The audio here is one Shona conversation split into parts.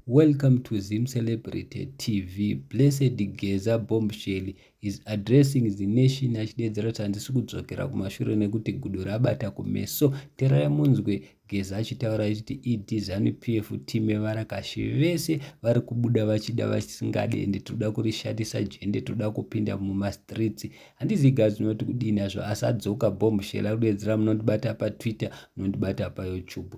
Welcome to ZimCelebrity TV. Blessed Geza Bombshell is addressing the nation achideedzera kuti handisi kudzokera kumashure nekuti gudo rabata kumeso. Terai munzwe Geza achitaura achiti ED Zanu PF team yevarakashi vese vari kubuda vachida vasingade ende tinoda kurishatisa jende tinoda kupinda mumastreets. Handizi gazi unoti kudii nazvo asi adzoka Bombshell ari kudeedzera munondibata paTwitter munondibata paYouTube.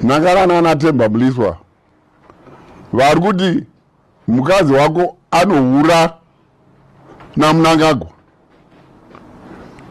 Nakara nana Temba Mliswa vari kuti mukadzi wako anohura naMnangagwa.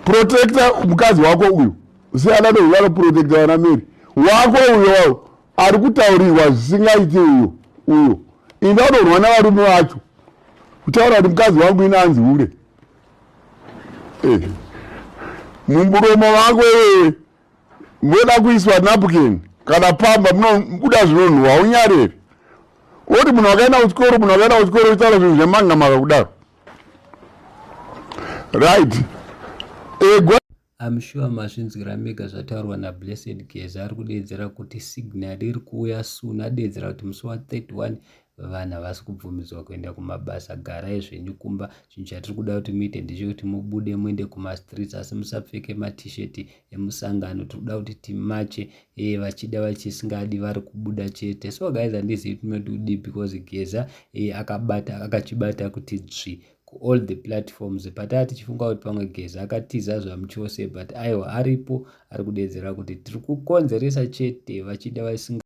Protecta mukadzi wako uyu siyana neuyu anoprotecta vana Mary wako uyo wao ari kutaurirwa zvisingaiti uyo uyo inda unorwa navarume vacho kutaura kuti mukadzi wangu ine anzi hure eh. mumburomo vako iwewe moda kuiswa napkin kana pamba munobuda zvinonhuwa haunyareri oti munhu wakaenda kuchikoro munhu wakaenda kuchikoro uchitaura zvinhu zvemangamaka kudaro right egwa I'm sure mazvinzwira mega zvataurwa naBlessed Geza ari kudeedzera kuti signal iri kuuya soon adeedzera kuti musi wa 31 vana havasi kubvumidzwa kuenda kumabasa garai zvenyu kumba chinhu chatiri kuda kuti muite ndechekuti mubude muende kumastreets asi musapfeke matshirt emusangano tiri kuda kuti timache ee eh, vachida vachisingadi vari kubuda chete so guys handizivi tinoti kudii because geza ee eh, akabata akachibata kuti dzvi kuall the platforms pataa tichifunga kuti pamwe geza akatiza zvamuchose but aiwa aripo ari kudedzera kuti tiri kukonzeresa chete vachida vasinga